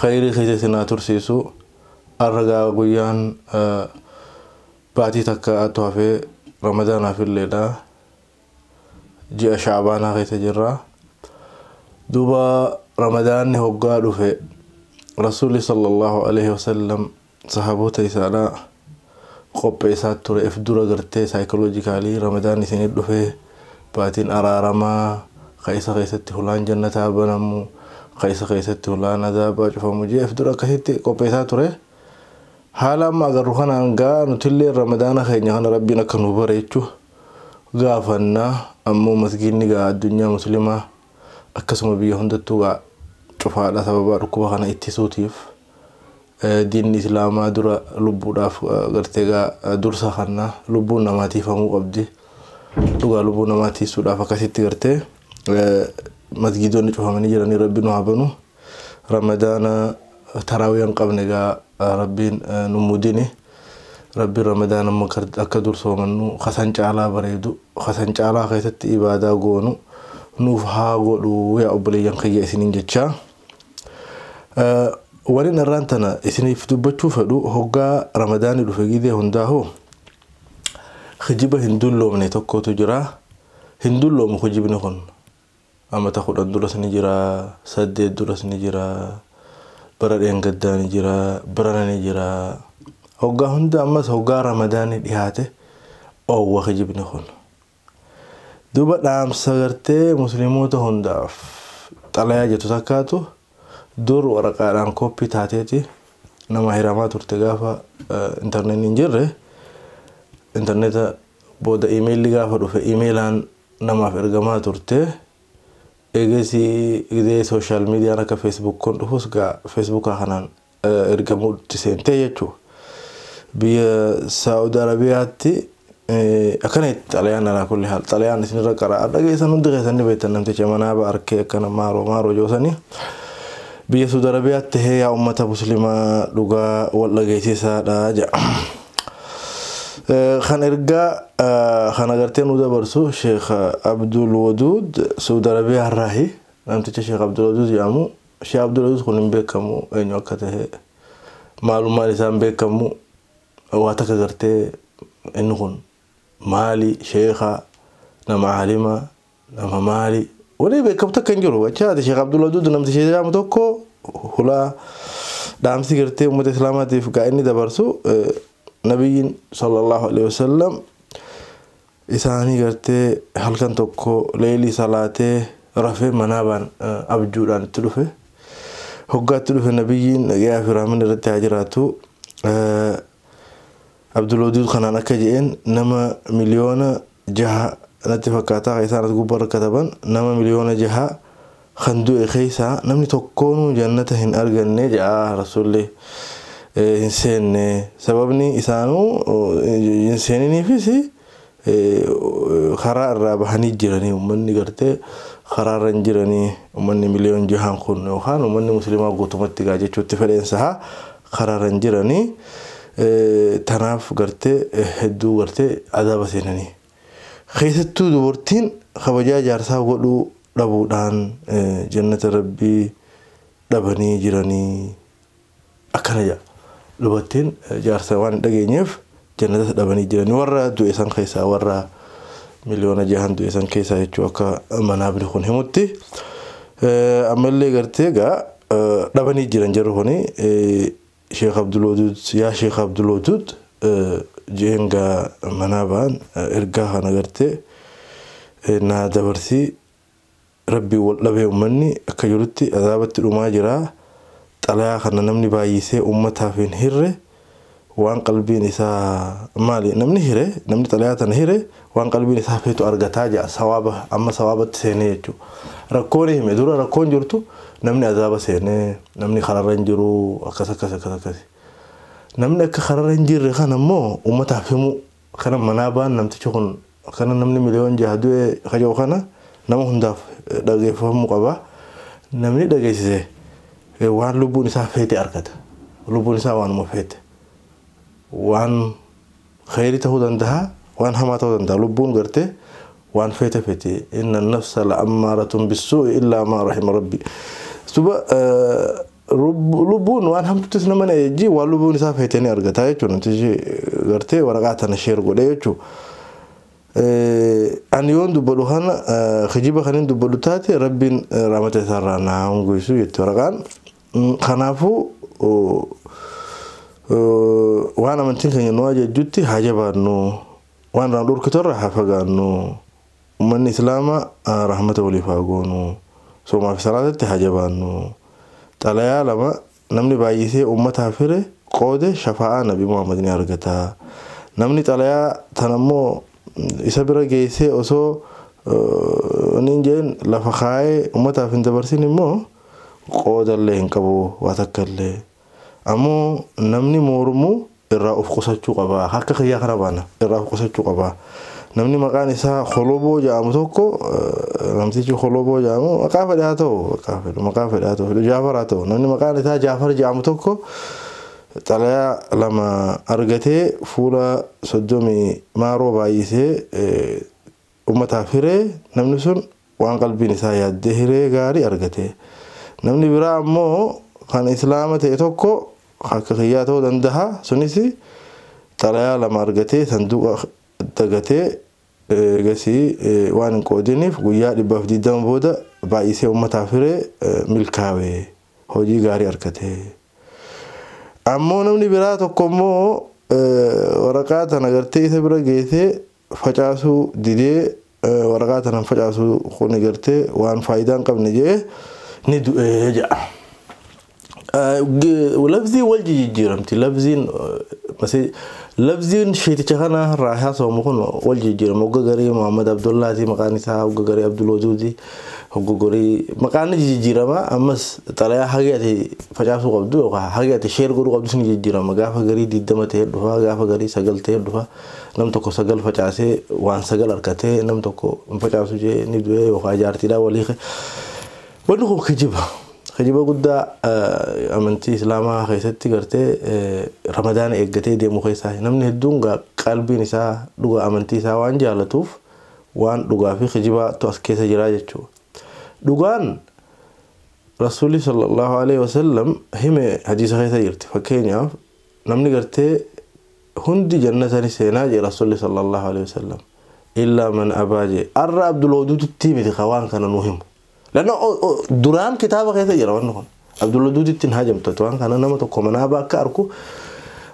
Kheeyrii keessa isin haa tursiisu arra gaa guyyaan baatii takka'aatu hafee ramadaanaaf illeedha ji'a sha'abaanaa keessa jirra duuba ramadaanni hoggaa dhufe rasuulli sallallahu aleyhi wasallam Sahaaboota isa alaa qopheessaa tureef dura gartee psychologically Ramadan isinii dhufee baatiin araaramaa ka isa keessatti hulaan jannataa banamu ka isa keessatti hulaan azaabaa cufamu je'eef dura akkasitti qopheessaa ture. Haala amma agarru kanaan gaa nutillee Ramadaana keenya kana Rabbiin akka nuu bareechu gaafanna ammoo masgiinni gaa addunyaa muslimaa akkasuma biyya hundattuu gaa cufaadha sababaa dhukkuba kana ittisuutiif Diinni islaamaa dura lubbuudhaaf gartee egaa dursa kanna. Lubbuun namaa tiifamuu qabdi. Dhugaa lubbuu namaa tiisuudhaaf akkasitti gartee masgiidonni cufamanii jiranii rabbi nu haa banu. Ramadaana taraawiya hin qabne egaa rabbiin nu mudini. Rabbiin ramadaana immoo akka dur soomannu kasan caalaa bareedu kasan caalaa keessatti ibaadaa goonu nuuf haa godhu yaa obboleeyyan kiyya isiniin jechaa. Wanin arraan tana isiniif dubbachuu fedhu hoggaa ramadaanni dhufe gizee hundaahuu kijiba hin dulloomne tokkotu jira. Hin dulloomu kijibni kun. Amata kudhan duras ni jira, saddeet duras ni jira, bara dheengaddaa ni jira, barana ni jira. Hoggaa hunda ammas hoggaa ramadaanni dhihaate oowwa kijibni kun. Duuba dhaamsa gartee muslimoota hundaaf xalayaa jettu takkaatu dur waraqaadhaan kooppii taateeti namaa hiramaa turte gaafa intarneetni hin jirre intarneeta booda imeelli gaafa dhufe imeelaan namaaf ergamaa turte eegasii gizee sooshaal miidiyaan akka feesbuuk kun dhufus gaa feesbuukaa kanaan ergamuutti seentee jechuudha. Biyya Saa'ud Arabiyaatti akkana itti xalayaan alaa kulli haal xalayaan isinirra qara'aa dhageessan hundi keessan ni beektan namticha manaaba arkee akkana maaroo maaroo joosanii. Biyya Saa'ud Arabiyaatti tahee yaa uummata muslimaa dhugaa wal dhageessisaadha jedha. Kan ergaa kan agartee nu dabarsu Sheekh Abdul Waduud Saa'ud Arabiyaa irraahi namticha Sheekh Abdul Waduud jedhamu Shee Abdulaziz kun hin beekamu eenyu akka tahe maalummaan isaa hin beekamu waa takka gartee inni kun maali sheeka nama aalima nama maali wanni beekamu takka hin jiru achi haati sheeka Abdulaziz namti shee jedhamu tokko hulaa dhaamsi gartee uummata islaamaatiif gaa inni dabarsu nabiyyiin sallallahu alaihi wasallam isaanii gartee halkan tokko leeylii salaatee rafee manaabaan abjuudhaan itti dhufe hoggaa itti dhufe nabiyyiin nagayaa fi rahmanni irratti haa jiraatu abdulwaduud kanaan akka je'een nama miliyoona jaha natti fakkaataa ka isaan as gubbarra kataban nama miliyoona jaha kan du'e keessaa namni tokkoonuu jannata hin arganne ja'a rasuulli hin seenne sababni isaanuu hin seeniniifis karaa irraa bahanii jiranii ummanni gartee karaa irra hin jiranii ummanni miliyoon jahaan kun yookaan ummanni muslimaa guutumatti gaa jechuutti fedheen saha karaa irra hin jiranii tanaaf gartee hedduu gartee azaaba seenanii. Keessattuu dubartiin kabajaa jaarsaa godhuu dhabuudhaan jannata Rabbii dhabanii jiranii akkana jedha. Dubartiin jaarsa waan hin dhageenyeef jannatas dhabanii jiranii warra du'e san keessaa warra miliyoona jahan du'e san keessaa jechuu akka manaabni kun himutti. Ammallee gartee egaa dhabanii jiran jarri kuni Sheek Abdulwaduud yaa Sheek Abdulwaduud je'een gaa manaa ba'an ergaa kana gartee naa dabarsii Rabbiin wal dhabee ummanni akka jirutti azaabatti dhumaa jira xalayaa kana namni baayyisee ummataaf hin hirre waan qalbiin isaa maali namni hire namni xalayaa tana hire Waan qalbiin isaa feetu argataa ja'a sawaaba amma sawaabatti seenee jechuu rakkoo ni hime dura rakkoon jirtu namni azaaba seenee namni kararra hin jiruu akkas akkas akkas akkasi namni akka kararra hin jirre kana immoo ummataaf himuu kana manaa baan namtichi kun akkana namni miliyoon jaha du'e kaja'u kana nama hundaaf dhageeffamuu qaba namni dhageessise waan lubbuun isaa feete argata lubbuun isaa waanuma feete waan Kheyri ta'uu dandaha waan hamaa ta'uu dandaha lubbuun gartee waan feete feeti inna an-nafsa la'ammaaratun bis-suu'i illaa maa rahima rabbi duba lubbuun waan hamtuttis nama ni ajajji waan lubbuun isaa feete ni argata jechuun namtichi gartee waraqaa tana sheer godhe jechuu an yoon dubbadhu kana kijiba kanin dubbadhu taate rabbiin rahmata isaarraa naa hongeysu jetti waraqaan Kanaafuu waan amantiin keenya nu ajajjutti haa jabaannu, waan irraa nu dhorkitu irraa haa fagaannu, ummanni Islaamaa rahmata waliif haa goonu, soomaa fi salaatatti haa jabaannu. Xalayaa lama namni baay'isee ummataaf hire, qoode shafaa'aa Nabi Muhammad ni argata. Namni xalayaa tana immoo isa bira geessee osoo wani hin jedhin lafa kaayee ummataaf hin dabarsin immoo, Qoodallee hin qabu waa takkallee. Ammoo namni moormu irraa uf qusachuu qaba. Ka akka kiyyaa kana baana irraa uf qusachuu qaba. Namni maqaan isaa Koloboo ja'amu tokko namtichi Koloboo ja'amu maqaa fedhe haa ta'u maqaa fedhu maqaa fedhe haa ta'u Jaafar haa ta'u namni maqaan isaa Jaafar ja'amu tokko xalayaa lama argatee fuula soddomii maaroo baay'isee Ummataaf hiree, namni sun waan qalbiin isaa yaaddee hiree gaarii argate. Namni biraa ammoo kan Islaama ta'e tokko kan akka kiyyaa ta'uu dandaha, sunis xalayaa lama argatee sanduuqa dagatee eegasii waan hin qoodiniif guyyaa 120 booda baay'isee ummataaf hiree milkaawe, hojii gaarii argate. Ammoo namni biraa tokko ammoo waraqaa tana gartee isa bira geessee facaasuu didee waraqaa tana hin facaasu kuni gartee waan faayidaa hin qabne jee ni du'e jedha. Labziin wal jijjiiramti labziin labziin sheeticha kana irraa haasawamu kun wal jijjiirama hogga garii Muhammad Abdullaati maqaan isaa hogga garii Abdul Waduudi hogga garii maqaan ni jijjiirama ammas xalayaa hagee ati facaasuu qabdu yookaan hagee ati sheer godhuu qabdu ni jijjiirama gaafa garii 20 ta'ee dhufa gaafa garii 9 ta'ee dhufa. Nam tokko sagal facaasee waan sagal arkatee nam tokko hin facaasu jee ni du'ee yookaan jaartiidhaan wal hiike. Wanni kun kijiba. Kijiba guddaa amantii Islaamaa keessatti gartee Ramadaana eeggatee deemu keessaa namni hedduun qalbiin isaa dhugaa amantii isaa waan jaalatuuf waan dhugaa fi kijibaatu as keessa jiraa jechuudha. Dhugaan Rasuulli sallallahu alaihi wasallam hime hadiisa keessa jirti. Fakkeenyaaf namni gartee Hundi jannata ni seenaa jee Rasulli sallallahu aleyh wasallam illaa man abaa jee arra abdulwadudittii miti ka waan kana nu himu lanna duraan kitaaba keessa jira wanni kun abdulwadudittin haajamtati waan kana nama tokko manaaba akka arku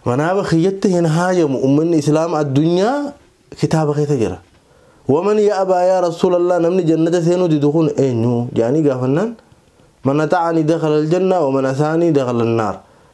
manaaba kiyyatti hin haajamu ummanni islaama addunyaa kitaaba keessa jira waman ya abaa yaa rasulallah namni jannata seenuu didu kun eenyu jaanii gaafannaan man ata'ani dakhala aljanna waman asaanii dakhala annaar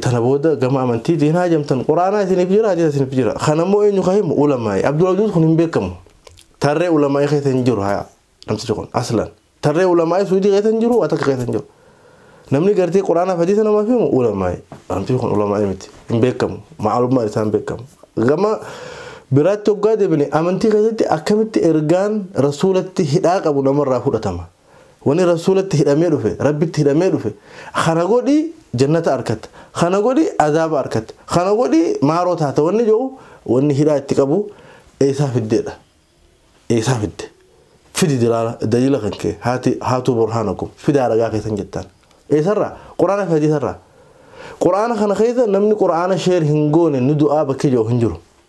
Tana booda gama amantiitti hin haajamtan quraanaa isiniif jira hadiisa isiniif jira kan ammoo eenyu ka himu ulamaa'i abdul ajuuz kun hin beekamu tarree ulamaa'i keessa hin jiru haya namtichi kun aslan tarree ulamaa'i suudii keessa hin jiru waa takka keessa hin jiru namni gartee quraanaaf hadiisa namaaf himu ulamaa'i namtichi kun ulamaa'i miti hin beekamu maalummaan isaan beekamu gama biraatti hoggaa deebine amantii keessatti akkamitti ergaan rasuulatti hidhaa qabu namarraa fudhatama Wani Rasuulatti hidhamee dhufe, Rabbitti hidhamee dhufe, kana godhi jannata arkatta, kana godhi azaaba arkatta, kana godhi maaroo taata wanni jedhu wanni hidhaa itti qabu eeysaa fiddeedha? Eeysaa fidde? Fidi dilaala, daliila kan kee, haati, haatuu burhaanakum, fidaa ragaa keessan jettaan. Eeysarraa? Qur'aana fi hadiisarraa. Qur'aana kana keessa namni Qur'aana share hin goone ni du'aa bakki jedhu hin jiru.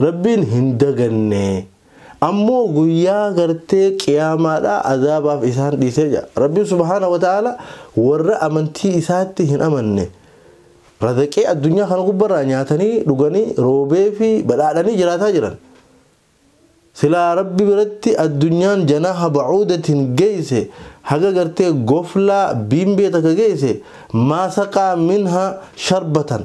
Rabbiin hin daganne. Ammoo guyyaa gartee qiyaamaadhaa azaabaaf isaan dhiisee jira. Rabbiin subhaanahu wa ta'aalaa warra amantii isaatti hin amanne razaqee addunyaa kana gubbarraa nyaatanii dhuganii roobee fi badhaadhanii jiraataa jiran. Silaa Rabbi biratti addunyaan janaaha ba'uudatiin geeyse haga gartee goflaa biimbee takka geeyse maa saqaa minha sharbatan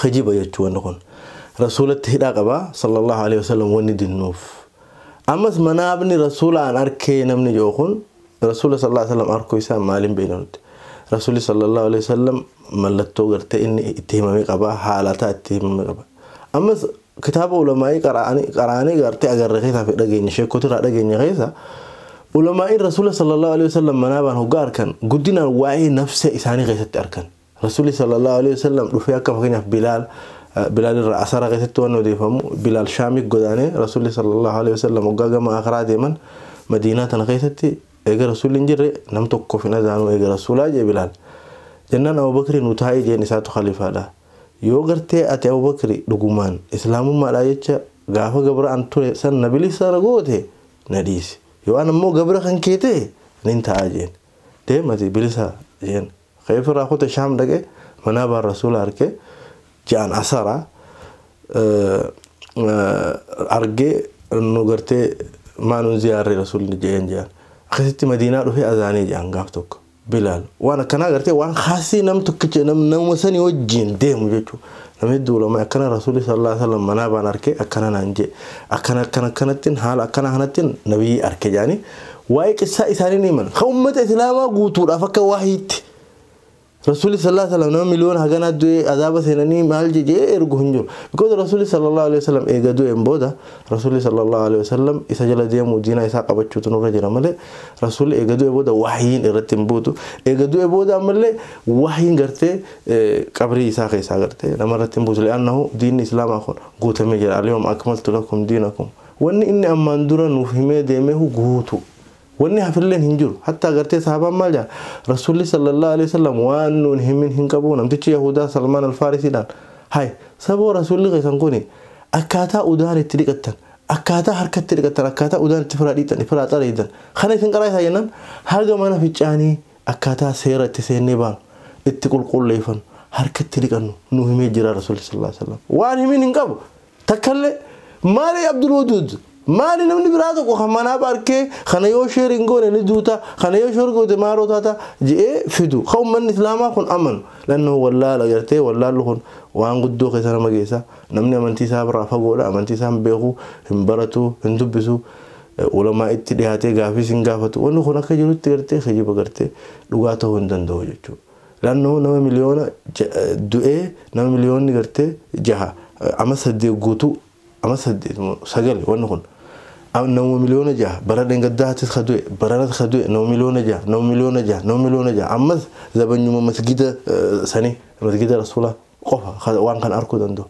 kijiba jechuu wanni kun rasuulatti hidhaa qaba sallallahu alaihi wasallam wanni dinnuuf ammas manaabni rasuulaan arkee namni jiru kun rasuula sallallahu alaihi wasallam arkuu isaa maaliin beekna nuti rasuulli sallallahu alaihi wasallam mallattoo gartee inni itti himame qaba haalataa itti himame qaba ammas kitaaba ulamaa'ii qaraanii gartee agarre keessaa fi dhageenye sheekotirraa dhageenye keessa ulamaa'iin rasuula sallallahu alaihi wasallam manaabaan hoggaa arkan guddinaan waa'ee nafsee isaanii keessatti arkan Rasuulli sallallahu aleyhi wa sallam dhufee akka fakkeenyaaf Bilaal Bilaal irraa asara keessatti waan odeeffamu Bilaal Shaamii godaanee Rasuulli sallallahu aleyhi wa sallam hoggaa gama akiraa deeman Madiinaa tana keessatti eega Rasuulli hin jirre nam tokkoof hin azaanuu eega Rasuulaa jee Bilaal. Jennaan Abubakri nu taa'ii jeen isaatu khalifaadha. Yoo gartee ati Abubakri dhugumaan Islaamummaadhaa jecha gaafa gabra an ture san na bilisa na goote na dhiisi. Yoo an ammoo gabra kan kee ta'e nin taa'aa jeen. Deem ati bilisa jeen. Ka'eef irraa kute Shaam dhaqe manaabaan Rasuula arke ja'an asara arge nu gartee maa nun ziyaarre Rasuulli ja'een ja'an. Akkasitti Madiinaa dhufee azaanee ja'an gaaf tokko. Bilaal waan akkanaa gartee waan khaasii nam tokkicha namuma sanii wajjiin deemu jechuu Nama hedduu ulamaa'i akkana Rasuulli sallallaahu aleyhi wa sallam manaabaan arke akkana naan je'e. Akkana akkana akkanattin haala akkanaa kanattin Nabiyyii arke je'anii waa'ee qissaa isaanii ni himan. Ka ummata Islaamaa guutuudhaaf akka wahyiitti. Rasuulli sallallaahu aleyhi wa sallam nama miliyoona haganaa du'ee azaaba seenanii maal je je'ee ergu hin jiru. Because Rasuulli sallallaahu aleyhi wa sallam eega du'een booda Rasuulli sallallaahu aleyhi wa sallam isa jala deemuu diinaa isaa qabachuutu nurra jira malee Rasuulli eega du'ee booda wahyiin irratti hin buutu. Eega du'ee booda ammallee wahyiin gartee qabrii isaa keessaa gartee nama irratti hin buusu li'annahu diinni islaamaa kun guutamee jira alyawma akmaltu lakum diinakum wanni inni ammaan dura nuuf himee deemehu guutu wanni hafilleen hin jiru hattaa gartee sahabaan maal jaa rasuulli sallallahu alaihi wasallam waan nuun himin hin qabu namtichi yahudaa salmaan alfaarisiidhaan hay saboo rasuulli keessan kuni akkaataa udaan itti dhiqattan akkaataa harka itti dhiqattan akkaataa udaan itti firaa dhiitan firaa xareeydan kana isin qaraa isaa jennaan haga mana ficcaanii Akkaataa seera itti seennee baanu, itti qulqulleeffannu, harka itti dhiqannu nuu himee jira Rasuulli sallallaahu aleyhi wa sallam. Waan himin hin qabu takkallee. Maali Abdul Waduud? Maali namni biraa tokko kan manaaf arkee kana yoo share hin goone ni duuta, kana yoo share goote maaloo taata je'ee fidu ka ummanni Islaamaa kun amanu. Lanno wallaala gartee wallaallu kun waan guddoo keessa nama geessa. Namni amantii isaa irraa fagoodha, amantii isaa hin beeku, hin baratu, hin dubbisu. Ulamaa'itti dhihaatee gaafii sin gaafatu. Wanni kun akka jirutti gartee kijiba gartee dhugaa ta'uu hin danda'u jechuudha. Laannoo nama miliyoona du'ee nama miliyoonni gartee jaha ama saddeet guutuu ama saddeet moo sagal wanni kun nama miliyoona jaha bara dheengaddaattis ka du'e baranas ka du'e nama miliyoona jaha nama miliyoona jaha nama miliyoona jaha ammas zabanyuma masgida sanii masgida rasuulaa qofa waan kan arkuu danda'u.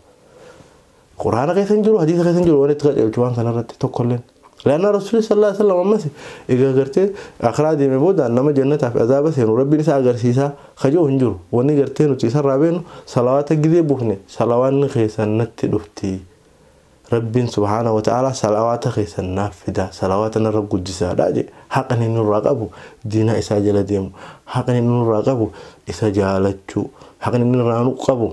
Quraana keessa hin jiru, hadiisa keessa hin jiru waan itti qajeelchu waan kana irratti tokko illeen. Laannaa Rasuulli sallallahu alaihi wasallam ammas egaa gartee akhiraa deeme booda nama jannataa fi azaaba seenu rabbiin isa agarsiisa ka jiru hin jiru. Wanni gartee nuti isarraa beenu salawaata gizee buufne salawaanni keessan natti dhufti. Rabbiin subhaanahu wa ta'aalaa salawaata keessan naaf fida salawaata narra guddisaadha jee haqni inni nurraa qabu diinaa isaa jala deemu haqni inni nurraa qabu isa jaalachuu haqni inni nurraa qabu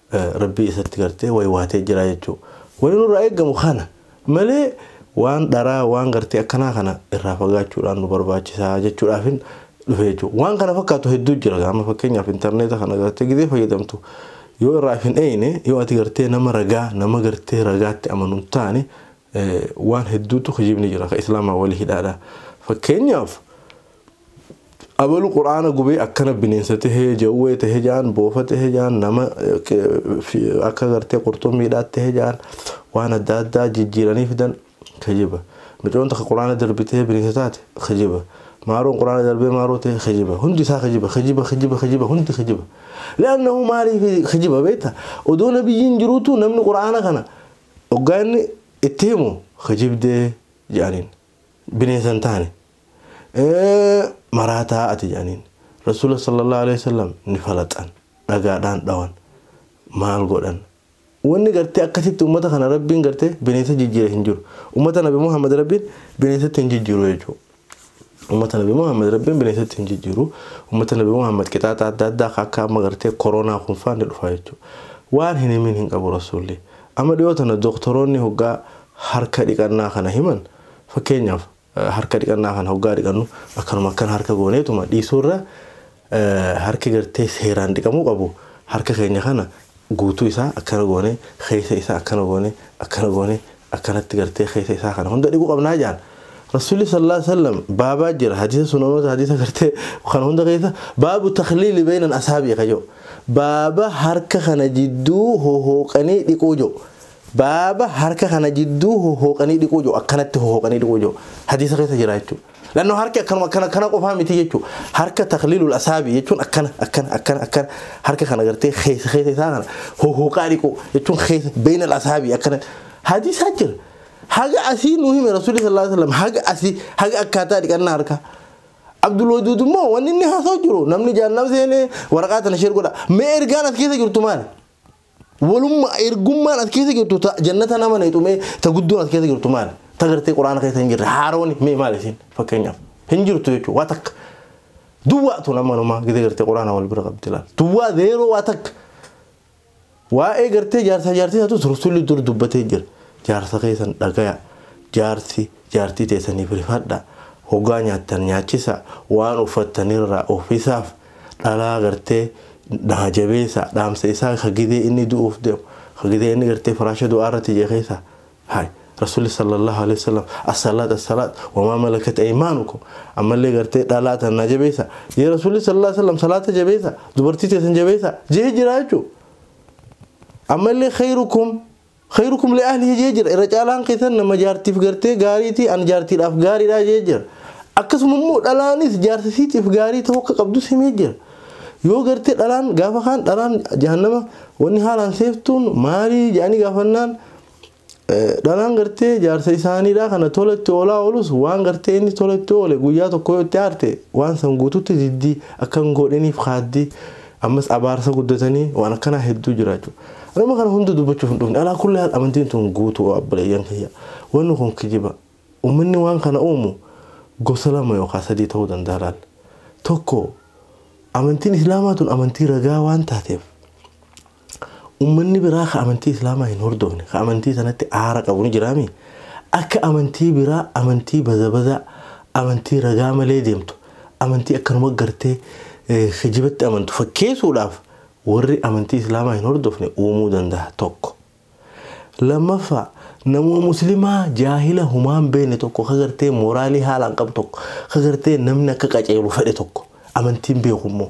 Rabbii isatti gartee waywaatee jiraa jechuu. Wani nurraa eeggamu kana malee waan dharaa waan gartee akkanaa kana irraa fagaachuudhaan nu barbaachisa jechuudhaafin dhufe jechuu. Waan kana fakkaatu hedduu jira gaa amma fakkeenyaaf intarneeta kana gartee gizee fayyadamtu yoo irraa if hin eeyne yoo ati gartee nama ragaa nama gartee ragaatti amanu hin taane waan hedduutu kijibni jira ka islaamaa wali hidhaadha. Fakkeenyaaf Abalu qur'aana gubee akkana bineensa tahee jawwee tahe jaan boofa tahe jaan nama akka gartee qurxummiidhaa tahe jaan waan adda addaa jijjiiranii fidan kijiba micoon takka qur'aana darbitee bineensa taate kijiba maaroon qur'aana darbee maaroo tahe kijiba hundi isaa kijiba kijiba kijiba kijiba hundi kijiba li'annahu maaliif kijiba beekta odoo nabiyyiin jiruutu namni qur'aana kana oggaa inni itti himu kijibdee jedhaniin bineensa hin taane maraataa ati jedhaniin rasuula sallallahu alaihi wasallam ni falaxan dhagaadhaan dhawan maal godhan wanni gartee akkasitti ummata kana rabbiin gartee bineensa jijjiire hin jiru ummata nabi muhammad rabbiin bineensatti hin jijjiiru jechuudha ummata nabi muhammad rabbiin bineensatti hin jijjiiru ummata nabi muhammad qixaaxa adda addaa akka amma gartee koronaa kun faan ni dhufa jechuudha waan hin himin hin qabu rasuulli amma dhiyoo tana doktoroonni hoggaa harka dhiqannaa kana himan fakkeenyaaf Harka dhiqannaa kana hoggaa dhiqannu akkanuma akkan harka gooneetuma dhiisuurra harki gartee seeraan dhiqamuu qabu harka keenya kana guutuu isaa akkana goone keessa isaa akkana goone akkana goone akkanatti gartee keessa isaa kana hunda dhiquu qabnaa jaan Rasuulli sallallahu alaihi wasallam baabaa jira hadiisa sunanoota hadiisa gartee kana hunda keessa baabu takhliili beenan asaabii kajoo baaba harka kana jidduu hohooqanii dhiquu jiru Baaba harka kana jidduu hohooqanii dhiquu jiru akkanatti hohooqanii dhiquu jiru hadiisa keessa jira jechuudha. Lannoo harki akkanuma akkana akkana qofaa miti jechuudha. Harka takliilul asaabii jechuun akkana akkana akkana akkana harka kana gartee keessa keessa isaa kana hohooqaa dhiquu jechuun keessa beeyinal asaabii akkana hadiisaa jira. Haga asii nu hime rasuulli sallallahu alaihi wasallam haga asii haga akkaataa dhiqannaa harkaa. Abdul Waduud immoo wanni inni haasa'u jiru namni jaannam seenee waraqaa tana sheer godha. Mee ergaan as keessa jirtu maali? Walumma ergummaan as keessa jirtu ta jannata nama neexu mee ta guddoon as keessa jirtu maali? Ta gartee quraana keessa hin jirre haarooni mee maali isin fakkeenyaaf hin jirtu jechuudha waa takka. Duwwaa tun amma numaa gidee gartee quraana wal bira qabdi laal. Duwwaa zeeroo waa takka. Waa'ee gartee jaarsaa jaartii isaatu sursulli dur dubbatee jira. Jaarsa keessan dhagaya. Jaarsi jaartii teessaniif rifadha. Hogaa nyaattan nyaachisa. Waan uffattanirraa uffisaaf. dhalaa gartee dhaha jabeessa dhaamsa isaa ka gidee inni du'uuf deemu ka gidee inni gartee firaasha du'aa irratti jee keessa hay rasuulli sallallahu alaihi wasallam as-salaat as-salaat wa maa malakat aymaanukum ammallee gartee dhalaa tan naa jabeessa jee rasuulli sallallahu alaihi wasallam salaata jabeessa dubartii teessan jabeessa jee jiraa jechuu ammallee khayrukum Khayrukum li ahlihi jee jira. Irra caalaan keessan nama jaartiif gartee gaariiti, an jaartiidhaaf gaariidha jee jira. Akkasuma immoo dhalaanis jaarsa siitiif gaarii ta'uu akka qabdus himee jira. Yoo gartee dhalaan gaafa kaan dhalaan jahannama wanni haalaan seeftuun maalii jedhanii gaafannaan dhalaan gartee jaarsa isaaniidha kana tola itti oolaa oolus waan gartee inni tola itti oole guyyaa tokko yoo itti aarte waan san guututti diddi akkan godhiniif kaaddi Ammas abaarsa guddatanii waan akkanaa hedduu jiraachuu. Ani amma kana hunda dubbachuuf hin dhufne. Alaa kulli haal amantiin tun guutuu obboleeyyan kiyya. Wanni kun kijiba. Ummanni waan kana uumu gosa lama yookaa sadii ta'uu danda'a laal. Tokko amantiin islaamaa tun amantii ragaa waan taateef ummanni biraa ka amantii islaamaa hin hordofne ka amantii tanatti aara qabu ni jiraami? Akka amantii biraa amantii bazabazaa amantii ragaa malee deemtu amantii akkanuma gartee kijibatti amantu fakkeessuudhaaf warri amantii islaamaa hin hordofne uumuu danda'a tokko. Lammaffaa namuma muslimaa jaahila humaan beekne tokko ka gartee mooraalii haalaan qabu tokko ka gartee namni akka qaceelu fedhe tokko amantiin beeku immoo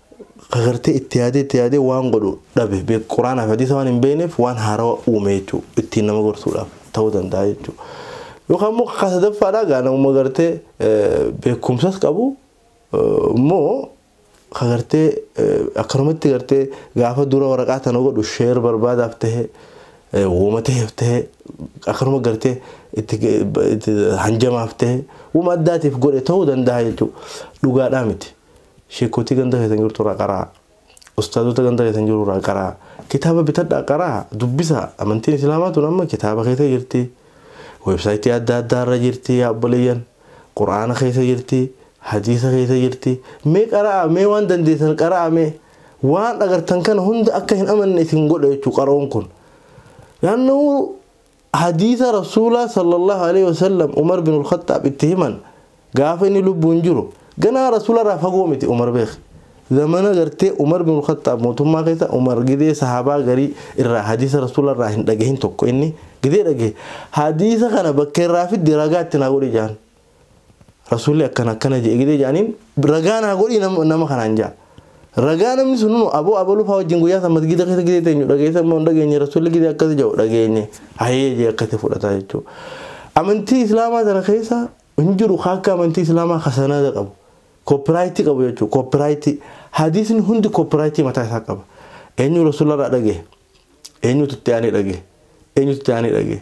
Gagartee itti yaadee itti yaadee waan godhu dhabe beek quraanaa fi hadiisa waan hin beekneef waan haarawa uume jechuu ittiin nama gorsuudhaaf ta'uu danda'a jechuu yookaan immoo kakaa sadaffaadhaa gaa namuma gartee beekumsas qabu immoo kagartee akkanumatti gartee gaafa dura waraqaa tana godhu sheer barbaadaaf ta'e wooma ta'eef ta'e akkanuma gartee itti hanjamaaf ta'e wuma addaatiif godhe ta'uu danda'a jechuu dhugaadhaa miti. Sheekkotii ganda keessan jirtu irraa qaraa. Ustaazota ganda keessan jiru irraa qaraa. Kitaaba bitadhaa qaraa, dubbisaa. Amantiin Islaamaa tun amma kitaaba keessa jirti. Weebsaayitii adda addaa irra jirti yaa obboleeyyan. Qur'aana keessa jirti, hadiisa keessa jirti. Mee qara'aa, mee waan dandeessan qara'aa mee. Waan agartan kana hunda akka hin amanne isin godha jechuu qara'uun kun. Laannoo Hadiisa Rasuulaa sallallaahu aleeyhi wasallam Umar binul Khaxxaab itti himan gaafa inni lubbuun jiru ganaa Rasuularraa fagoo miti Umar beekh. Zamana gartee Umar binul Khaxxaab mootummaa keessa Umar gidee sahaabaa garii irraa hadiisa Rasuularraa hin dhagahin tokko inni gidee dhagahe hadiisa kana bakka irraa fiddi ragaa itti naa godhi ja'an. Rasuulli akkana akkana jedhe gidee jedhaniin ragaa naa godhii nama kanaan ja'a. Ragaa namni sun nuu aboo abaluu fa'aa wajjin guyyaa san masgiida keessa gidee teenyu dhageessa immoo hin dhageenye rasuulli gidee akkas jedhu dhageenye hayee jee akkatti fudhataa jechuudha. Amantii islaamaa sana keessa hin jiru akka amantii islaamaa ka sanada qabu. Koopiraayitii qabu jechuudha. Koopiraayitii hadiisni hundi koopiraayitii mataa isaa qaba. Eenyu rasuullarraa dhagee? Eenyutu itti aanee dhagee? Eenyutu itti aanee dhagee?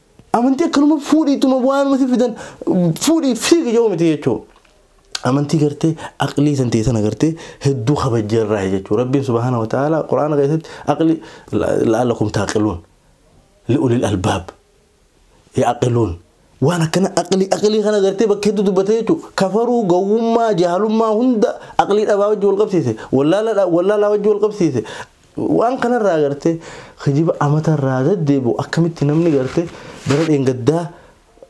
Amantii akkanuma fuudhiituma waanuma si fidan fuudhii fiigi yoo miti jechuudha. Amantii gartee aqlii san ta'e sana gartee hedduu kabajjee irraa jechuudha. Rabbiin subhaana wa ta'aala quraana keessatti aqli la'allakum taaqiluun li'ulil albaab yaaqiluun waan akkana aqlii aqlii kana gartee bakka hedduu dubbate jechuudha. Kafaruu gowwummaa jaalummaa hunda aqlii dhabaa wajji wal qabsiise wallaalaa wajji wal qabsiise Waan kanarraa gartee kijiba amatarraa deddeebi'u akkamitti namni gartee bara dheengaddaa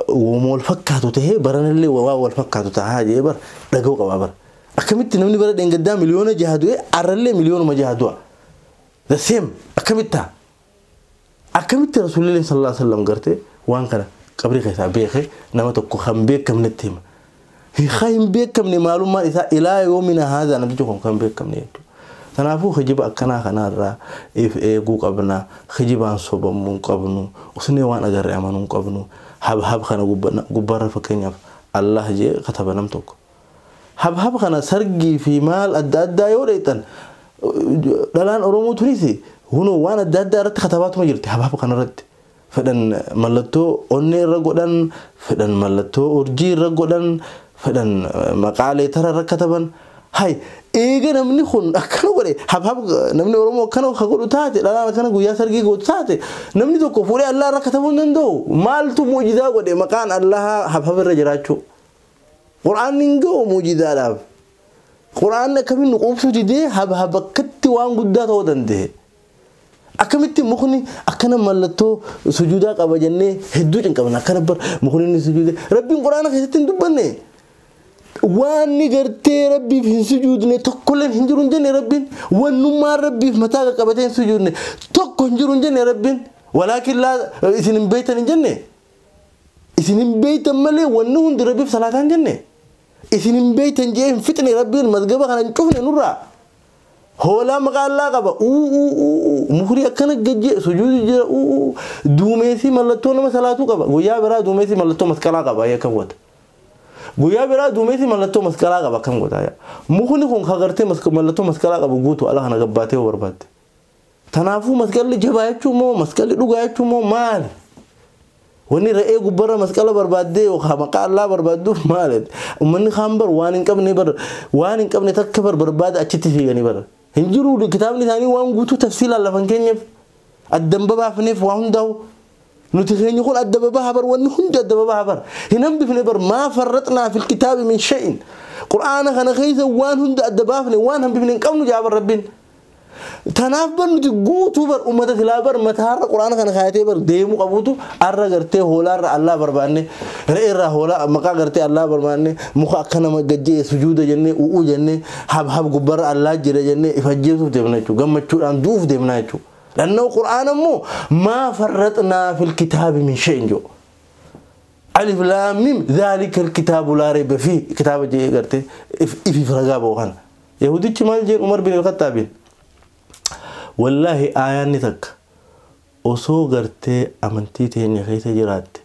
woma wal fakkaatu tahee baranallee waa wal fakkaatu tahaa jee bar dhaga'u qabaa bar. Akkamitti namni bara dheengaddaa miliyoona jaha du'ee arrallee miliyoonuma jaha du'a. The same akkamitti taha? Akkamitti Rasuulilleen sallallaahu aleyhi wa sallam garte waan kana qabrii keessaa beeke nama tokko kan beekamnetti hima. Kan hin beekamne maalummaan isaa ilaa yoomina haazaa namtichi kun kan beekamne jechuudha. Kanaafuu kijiba akkanaa kanarraa if eeguu qabna. Kijibaan sobamuu hin qabnu. Usnee waan agarre amanuu hin qabnu. Habhab kana gubbarra fakkeenyaaf Allaah jedhee kataba nam tokko. Habhab kana sargii fi maal adda addaa yoo dheexxan dhalaan Oromoo tunis hunoo waan adda addaa irratti katabaatuma jirti habhab kana irratti. Fedhan mallattoo onnee irra godhan, fedhan mallattoo urjii irra godhan, fedhan maqaa leetara irra kataban. Hay eega namni kun akkana godhe habhab namni Oromoo akkana ka godhu taate dhalaan akkana guyyaa sargii gootu taate namni tokko fuudhee Allaa irra katabuu hin danda'u. Maaltu mu'jizaa godhe maqaan Allahaa habhab irra jiraachuu. Qur'aanni hin ga'u muujizaadhaaf. Qur'aanni akkamitti nu quubsuu didee habhaba akkatti waan guddaa ta'uu danda'e. Akkamitti mukni akkana mallattoo sujuudaa qaba jennee hedduu cinqamna akkana bar mukni inni sujuude rabbiin qur'aana keessatti hin dubbanne. Waanni gartee rabbiif hin sujuudne tokkollee hin jiru hin jenne rabbiin wannummaan rabbiif mataa qaqqabatee hin sujuudne tokko hin jiru hin jenne rabbiin walaakin laa isin hin beektan hin jenne. isin hin beeytan malee wanni hundi rabbiif salaataan kenne isin hin beeytan jee hin fixne rabbiin mazgaba kana hin cufne nurraa hoolaa maqaa allaa qaba uuu mukrii akkana gajjee sujuudu jira uuu duumeesii mallattoo nama salaatuu qaba guyyaa biraa duumeesii mallattoo masqalaa qaba akkam godha guyyaa biraa duumeesii mallattoo masqalaa qaba akkam godha mukni kun kagartee mallattoo masqalaa qabu guutu ala kana gabbaatee barbaadde Tanaafuu masqalli jabaa jechuun moo masqalli dhugaa jechuun moo maali? Wanni re'ee gubbarra masqala barbaaddee yookaan maqaa allaa barbaadduuf maali? Ummanni kaan bar waan hin qabne bar waan hin qabne takka bar barbaada achitti fiiganii bar. Hin jiru kitaabni isaanii waan guutuu tafsiilaan lafan keenyeef addan babaafneef waa hundaa'u. Nuti keenya kun adda babaha bar wanni hundi adda babaha bar. Hin hambifne bar maa farraxnaa fil kitaabi min shay'in. Qur'aana kana keessa waan hunda adda baafne waan hambifne hin qabnu jaa bar rabbiin. Tanaaf bar nuti guutuu bar ummata silaa bar mataarra quraana kana kaayatee bar deemuu qabuutu arra gartee hoolaarra allaa barbaanne re'eerraa hoolaa maqaa gartee allaa barbaanne muka akka nama gajjee sujuuda jennee u'uu jennee hab hab gubbarra allaa jira jennee if ajjeesuuf deemna jechuudha gammachuudhaan du'uuf deemnaa jechuudha. Dhannoo quraana immoo maa farraxnaa fil kitaabi min shay'in jiru. Alif laamim zaalika kitaabu laa reeba fi kitaaba jee gartee ifiif ragaa ba'u kana. Yahudichi maal jeen Umar bin Al-Khaxxaabiin? Wallaahi aayaanni takka osoo gartee amantii teenya keessa jiraatte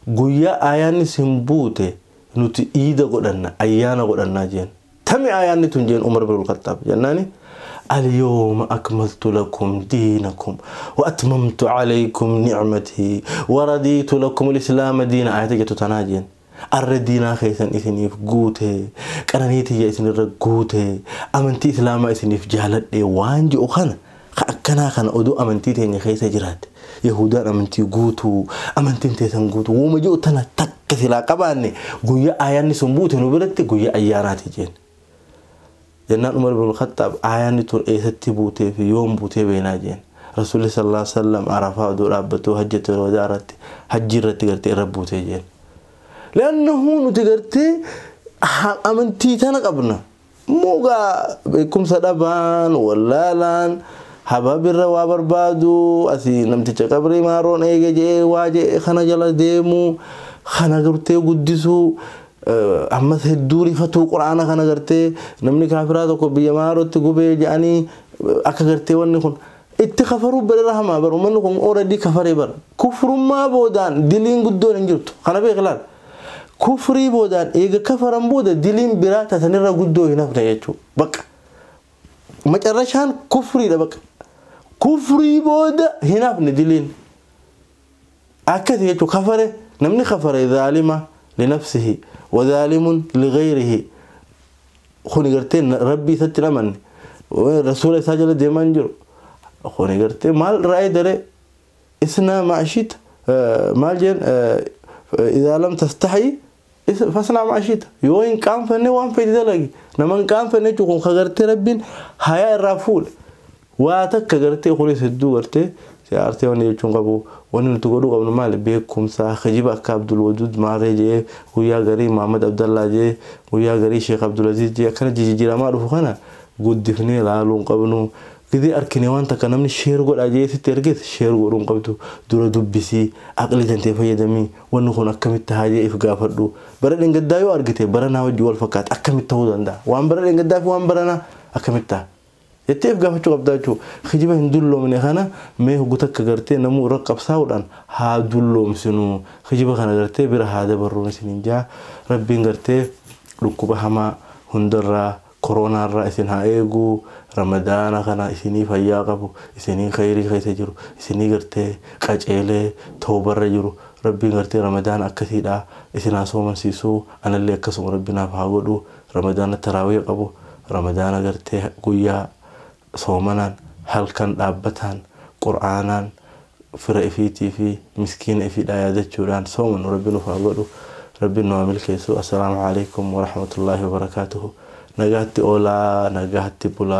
guyyaa aayaanni sin buute nuti iida godhanna, ayyaana godhannaa jeen. Tami aayaanni tun jeen Umar bin Al-Khaxxaab jennaani Al-yawma akmaltu lakum diinakum wa atmamtu alaykum ni'matii wa radiitu lakum al-islaama diina aayata jettu tanaa jeen. arra diinaa keessan isiniif guute qananii tiyya isinirra guute amantii islaamaa isiniif jaaladhe waan ji'u kana ka akkanaa kana oduu amantii teenya keessa jiraatte yahuudaan amantii guutuu amantiin teessan guutuu wooma ji'u tana takka silaa qabaanne guyyaa ayaanni sun buute nu biratti guyyaa ayyaanaati jeen Jennaan Umar ibn Khaxxaab aayaanni tun eessatti buutee fi yoom buutee beeynaa jeen. Rasuulli sallallaahu aleyhi wa sallam Arafaa odoo dhaabbatuu hajjatul wadaa irratti hajjii irratti gartee irra buutee jeen. Li'annahu nuti gartee amantii tana qabna. Immoo gaa beekumsa dhabaan, wallaalaan, hababirra waa barbaadu, asii namticha qabrii maaroon eege je'ee waa je'e kana jala deemu, kana gartee guddisuu, ammas hedduu rifatuu quraana kana gartee namni kaafiraa tokko biyya maarootti gubee jedhanii akka gartee wanni kun itti kafaruu bira rahamaa bara uummanni kun ooradii kafaree bara kufrummaa boodaan diliin guddoon hin jirtu kana beeklaal kufrii boodaan eega kafaran booda diliin biraa tasanirra guddoo hin hafne jechuudha baqa macarrashaan kufriidha baqa kufrii booda hin hafne diliin. Akkasi jechuun kafare namni kafare zaalima linafsihi wazaalimun lighayrihi kuni gartee rabbii isatti hin amanne rasuula isaa jala deemaa hin jiru kuni gartee maal irraa eedare isnaa maashita maal jeen idaa lam tastahi Is fasnaa maa shiita. Yoo hin qaanfanne waan feete dalagi. Nama hin qaanfanne jechuun kun ka gartee rabbiin hayaa irraa fuudhe. Waa takka gartee kunis hedduu gartee si aarsee wanni jechuun qabu. Wanni nuti godhuu qabnu maali beekumsa kijiba akka Abdul Waduud Maarree jee guyyaa garii Muhammad Abdallaa jee guyyaa garii Sheekh Abdul Aziz jee akkana jijijiramaa dhufu kana guddifnee laaluu hin qabnu. Gizee arkine waan takka namni sheer godhaa jee sitti erges sheer godhuu hin qabdu. Dura dubbisi aqlii tantee fayyadami. Wanni kun akkamitti tahaa jee if gaafadhu. Bara dhengaddaa yoo argite baranaa wajjin wal fakkaata akkamitti tahuu dandaha? Waan bara dhengaddaa fi waan baranaa akkamitti taha? jettee if gaafachuu qabdaa jechuudha. Kijiba hin dulloomne kana mee hoggu takka gartee namuu irra qabsaa'uudhaan haa dulloomsinu. Kijiba kana gartee bira haa dabarruun isiniin jaha. Rabbiin gartee dhukkuba hamaa hundarraa. Koroonaa irraa isin haa eegu ramadaana kana isinii fayyaa qabu isinii keyrii keessa jiru isinii gartee qaceelee towba irra jiru rabbiin gartee ramadaana akkasiidha isin haa soomansiisu anallee akkasuma rabbi naaf haa godhu ramadaana taraawiya qabu ramadaana gartee guyyaa soomanaan, halkan dhaabbataan, qur'aanaan, fira ifiitii fi miskiina ifiidhaa yaadachuudhaan soomanu Rabbi nuuf haa godhu, Rabbiin nu haa milkeessu. Assalaamu Aleeykum Warahmatullaahi Wabarakaatuhu. Nagaatti oolaa, nagaatti bulaa.